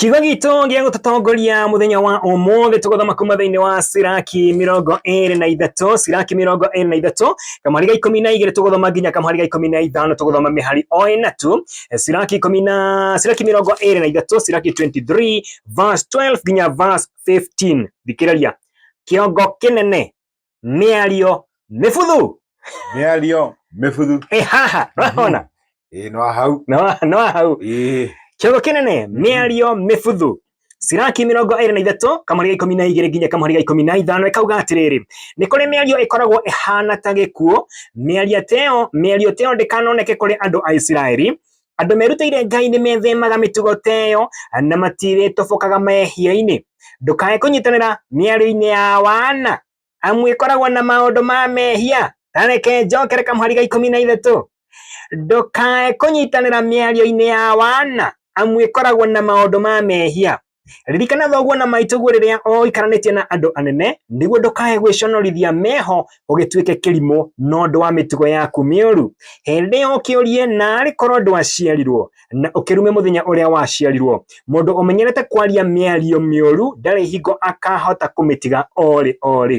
Kiugo gitũ gĩa gũtũtongoria mũthenya wa ũmũthĩ tũgũthoma kuma thĩinĩ wa Siraki mĩrongo ĩrĩ na ithatũ Siraki mĩrongo ĩrĩ na ithatũ kamũhari ga ikũmi na igĩrĩ tũgũthoma nginya kamũhari ga ikũmi na ithano tũgũthoma mĩhari o ĩna tu Siraki ikũmi na Siraki mĩrongo ĩrĩ na ithatũ Siraki 23 verse 12 nginya verse 15 thikĩrĩria kĩongo kĩnene mĩario mĩbuthu mĩario mĩbuthu ĩ haha ũrahona ĩ no hau no no hau ĩ kĩongo kĩnene mĩario mĩbuthu ciraki mĩrongo ĩrĩ na ithatũ kamũrĩ ga ikũmi na igĩrĩ nginya kamũrĩ ga ikũmi na ithano ĩkauga atĩrĩrĩ nĩ kũrĩ mĩario ĩkoragwo ĩhana ta gĩkuũ mĩario teo mĩario teo ndĩkanoneke kũrĩ andũ a isiraeli Andũ merutĩire Ngai nĩ methemaga mĩtugo ta ĩyo na matirĩtobokaga mehia-inĩ. Ndũkae kũnyitanĩra mĩario-inĩ ya wana amu ĩkoragwo na maũndũ ma mehia. Ta reke njokere kamũhari ga ikũmi na ithatũ. Ndũkae kũnyitanĩra mĩario-inĩ ya wana amu ĩkoragwo na maũndũ ma mehia. Ririkana thoguo na maitũguo rĩrĩa oikaranĩtie na andũ anene, nĩguo ndũkae gwĩconorithia meho ũgĩtuĩke kĩrimũ na ũndũ wa mĩtugo yaku mĩũru. Hĩndĩ ĩyo ũkĩũrie narĩ korwo ndwaciarirwo, na ũkĩrume mũthenya ũrĩa waciarirwo. Mũndũ ũmenyerete kwaria mĩario mĩũru ndarĩ hingo akahota kũmĩtiga orĩ orĩ.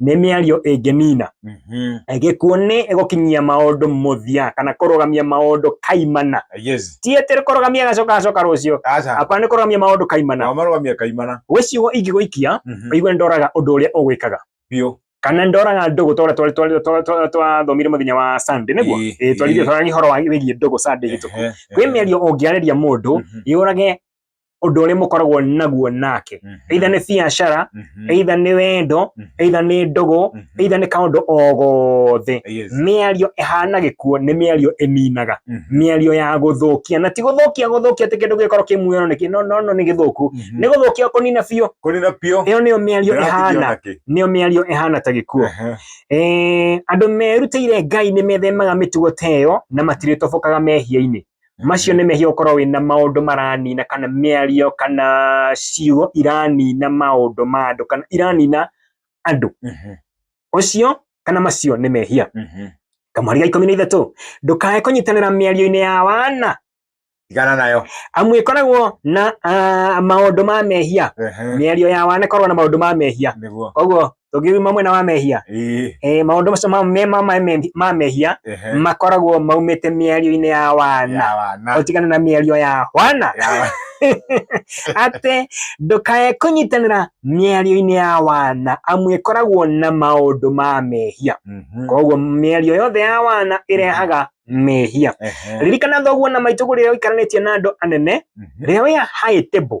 nĩ mĩario ĩngĩnina Mhm. gĩkuũ nĩ gũkinyia maũndũ mũthia kana kũrũgamia maũndũ kaimana Yes. ti atĩ kũrũgamia gacoka gacoka rũciũ Aca. hapana nĩ kũrũgamia maũndũ kaimana Nao marũgamia kaimana. gwĩ ciugo ingĩgũikia Mhm. ũigue ndoraga ũndũ ũrĩa ũgwĩkaga Biũ. kana ndoraga ndũgũ twa twa- twa- twa- twa- twathomire mũthenya wa Sunday nĩguo Ĩĩ, Ĩĩ, twarĩrie ĩĩ. twarĩrie ũhoro wa wĩgiĩ ndũgũ Sunday hĩtũku Ehe, kwĩ ehe. mĩario ũngĩarĩria mũndũ Mhm. yũrage ũndũ ũrĩa mũkoragwo naguo nake Mhm. either nĩ biacara Mhm. either nĩ wendo Mhm. either nĩ ndũgũ Mhm. either nĩ kaũndũ o gothe Yes. mĩario ĩhana gĩkuo nĩ mĩario ĩninaga Mhm. mĩario ya gũthũkia na ti gũthũkia gũthũkia atĩ kĩndũ gĩkorwo kĩ muoyo nĩ kĩ- no no no nĩ gĩthũku Mhm. nĩ gũthũkia kũnina biũ kũrĩ na biũ ĩyo nĩyo mĩario ndĩratigio ĩhana nakĩ. nĩyo mĩario ĩhana ta gĩkuo Aha. Eh, andũ merutĩire ngai nĩ methemaga mĩtugo ta ĩyo na matirĩtobokaga mehia-inĩ Macio nĩ mehia ũkorwo wĩna maũndũ maranina kana mĩario kana ciugo iranina maũndũ ma andũ kana iranina andũ. Mhm. Ũcio kana macio nĩ mehia. Mhm. Kamweri ga ikũmi na ithatũ, ndũkae kũnyitanĩra mĩario-inĩ ya wana Tigana nayo. amu ĩkoragwo na ah, maũndũ ma mehia. Ehe. Mĩario ya wana ĩkoragwo na maũndũ ma mehia. Nĩguo. Koguo tũngiuma mwena wa mehia Ĩĩ. eh, maũndũ macio ma- me ma- ma- me- ma mehia Ehe. makoragwo maumĩte mĩario-inĩ ya wana Ya wana. ũtigane na mĩario ya wana Ya- atĩ ndũkae kũnyitanĩra mĩario-inĩ ya wana amu ĩkoragwo na maũndũ ma mehia Mhm. koguo mĩario yothe ya wana ĩrehaga mehia Ehe. ririkana thoguo na maitũguo rĩrĩa ũikaranĩtie na andũ anene Mhm. rĩrĩa wĩ high table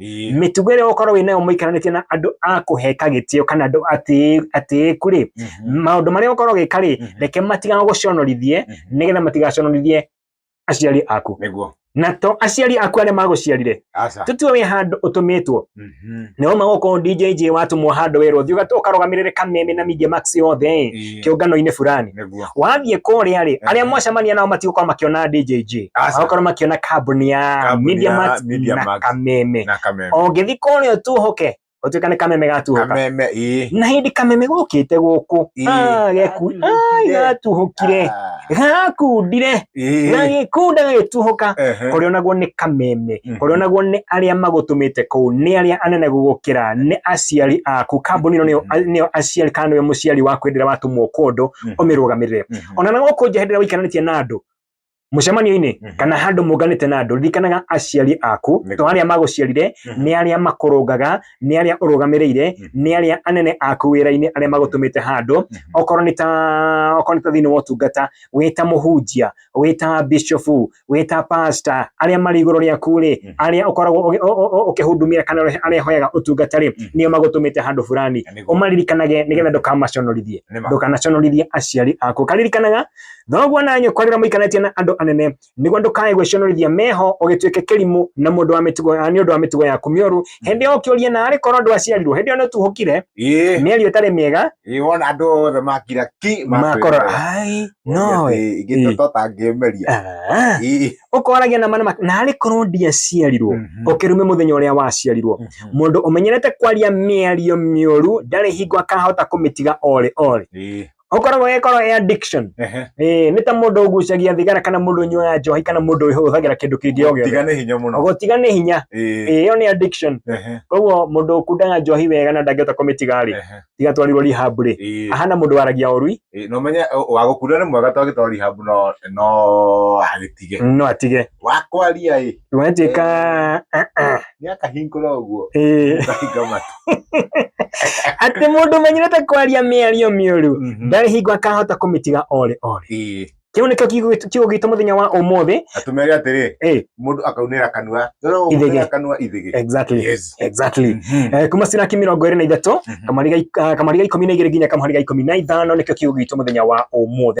Ĩĩ. mĩtugo ĩrĩa ũkorwo wĩ nayo mũikaranĩtie na andũ a kũheka gĩtĩo kana andũ atĩ- atĩĩku rĩ Mhm. maũndũ marĩa ũkorwo gĩka rĩ Mhm. reke matigana gũconorithie Mhm. nĩgetha matigaconorithie aciari aku Nĩguo. na to aciari aku arĩa magũciarire Aca. tũtue wĩ handũ ũtũmĩtwo Mhm. nĩwauma gũkũ DJJ watũmwo handũ wĩrwo thiĩ ũgat- ũkarũgamĩrĩre kameme na Media Max yothe Ĩĩ. kĩũngano-inĩ fulani nĩguo wathiĩ kũrĩa rĩ arĩa Mhm. mwacemania nao matigũkorwo makĩona DJJ Aca. magakorwo makĩona kambuni ya Kambuni Media ya Max Media na Max. kameme na kameme ũngĩthiĩ kũrĩa ũtuhũke ũtuĩka nĩ kameme gatuhũka kameme ĩĩ na hĩndĩ kameme gũkĩte gũkũ Ĩĩ. Ah, geku- ai, gatuhũkire Ah. gakundire na Ĩĩ. gĩkunda gagĩtuhũka Ehe. kũrĩa onaguo nĩ kameme Mhm. kũrĩa onaguo nĩ arĩa magũtũmĩte kũu nĩ arĩa anene gũgũkĩra nĩ aciari aku kambuni ĩno nĩyo- Mhm. nĩyo aciari kana nĩwe mũciari waku hĩndĩ ĩrĩa watũmwo kũndũ Mhm. ũmĩrũgamĩrĩre Mhm. ona na gũkũ nja hĩndĩ ĩrĩa waikananĩtie na andũ mũcemanio-inĩ Mhm. kana handũ mũnganĩte na andũ ririkanaga aciari aku Nĩ- to arĩa magũciarire Mhm. nĩ arĩa makũrũngaga nĩ arĩa ũrũgamĩrĩire nĩ arĩa anene aku wĩra-inĩ arĩa magũtũmĩte handũ okorwo nĩ ta okorwo nĩ ta thĩinĩ wa ũtungata wĩ ta mũhunjia wĩ ta bishofu wĩ ta pasta arĩa marĩ igũrũ rĩaku rĩ Mhm. arĩa ũkoragwo ũgĩ- ũ- ũ- ũ- ũkĩhudumia kana ũrĩa- arĩa hoyaga ũtungata rĩ Mhm. nĩo magũtũmĩte handũ fulani Na nĩguo- ũmaririkanage nĩgetha ndũkamaconorithie nĩma. ndũkanaconorithie aciari aku karirikanaga thoguo na nyũkwa rĩrĩa mũikarĩtie na andũ anene nĩguo ndũkae gwĩconorithia meho ũgĩtuĩke kĩrimũ na mũndũ wa mĩtugo ah, nĩ ũndũ wa mĩtugo yaku mĩũru hĩndĩ ĩyo ũkĩũria na arĩ korwo ndwaciarirwo hĩndĩ ĩyo nĩ ũtuhũkire ĩĩ mĩario ĩtarĩ mĩega ĩĩ wona andũ othe makira ki makora ai no ĩ, ingĩ ĩĩ. toto tangĩmeria ah, Ĩĩ. ũkoragia na manama na arĩ korwo ndiaciarirwo Mhm. ũkĩrume mũthenya ũrĩa waciarirwo Mhm. mũndũ ũmenyerete kwaria mĩario mĩũru ndarĩ hingo akahota kũmĩtiga orĩ orĩ Ĩĩ. ũkoragwo ĩkorwo ĩ addiction Ehe. eh nĩ ta mũndũ ũgucagia thigara kana mũndũ ũnyuaga njohi kana mũndũ ũhũthagĩra kĩndũ kĩngĩ o gĩothe Tiga nĩ hinya mũno. gũtiga nĩ hinya Ĩĩ. eh ĩyo nĩ addiction Ehe. koguo mũndũ ũkundaga njohi wega na ndangĩhota kũmĩtiga rĩ Ehe. tiga twarirwo rehab rĩ Ĩĩ. ahana mũndũ waragia ũrui Ĩĩ, na ũmenye ũ- wa gũkunda nĩ mwega to agĩtwara rehab no no agĩtige no atige wa kwaria ĩ Wanjĩka ah, ah, gĩakahingũra ũguo eh. ũkahinga matũ atĩ mũndũ ũmenyerete kwaria mĩario mĩũru Mhm. ndarĩ hingo akahota kũmĩtiga orĩ orĩ Ĩĩ. kĩu nĩkĩo kiugo- kiugo gitũ mũthenya wa ũmũthĩ na tũmere atĩrĩ Eh. mũndũ akaunĩra kanua Ithĩgĩ. ũrĩa kanua ithĩgĩ exactly Yes. exactly Mhm. Eh, kuma ciraki mĩrongo ĩrĩ na ithatũ Mhm. kamariga ik- ah, kamariga ikũmi na igĩrĩ nginya kamariga ikũmi na ithano nĩkĩo kiugo gitũ mũthenya wa ũmũthĩ